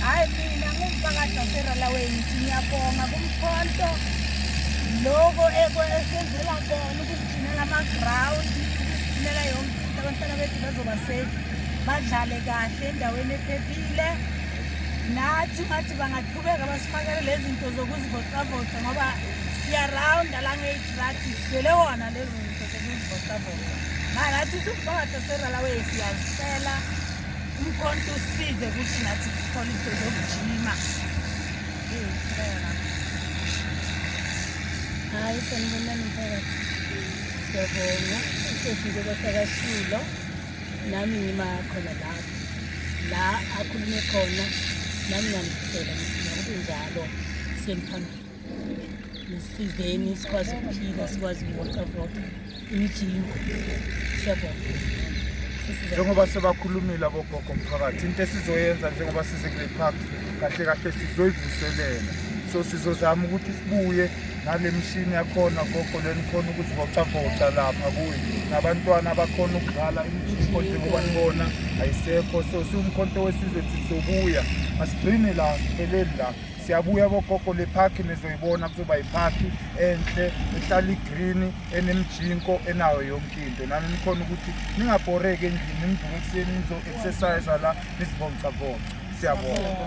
hayi mina ngumphakathi waseralaweni ngithi ngiyabonga kumkhonto loko esenzela kona ukusigcinela amagrawundi ukusigcinela yonke into abantwana bethu bazoba safe badlale kahle endaweni ephephile nathi ngathi bangaqhubeka basifakele lezi zinto zokuzivocavoca ngoba siyarawunda la ngeyidrati siswele wona lezo zinto zokuzivocavoca manje athi sibhakade seralawe siyazisela umkhonto usize ukuthi nathi sithole into zokujima hayi sanibonani mphakathi siyabonga sesinde kwasakashilo nami ngimakhona lapho la akhulume khona nami nganifisela ngithi nakukunjalo siyemphambili nisizeni sikwazi ukuphila sikwazi ukuvocavoca imijingo siyabonga njengoba sebakhulumile abogogo mphakathi into esizoyenza njengoba size kule park kahle kahle sizoyivuselela so sizozama ukuthi sibuye nale mishini yakhona gogo lenikhona ukuzivocavoca lapha kuyo nabantwana abakhona ukudlala imijingo njengoba nibona ayisekho so siwumkhonto wesizwe sizobuya asigcini la sipheleli la Siyabuya bogogo le park nizoyibona kuzoba yiphakhi enhle ehlala igreen enemjinko enayo yonke into nani nikhona ukuthi ningabhoreki endlini nivuke ekuseni nizo-exercise la nizivomcavomca siyabonga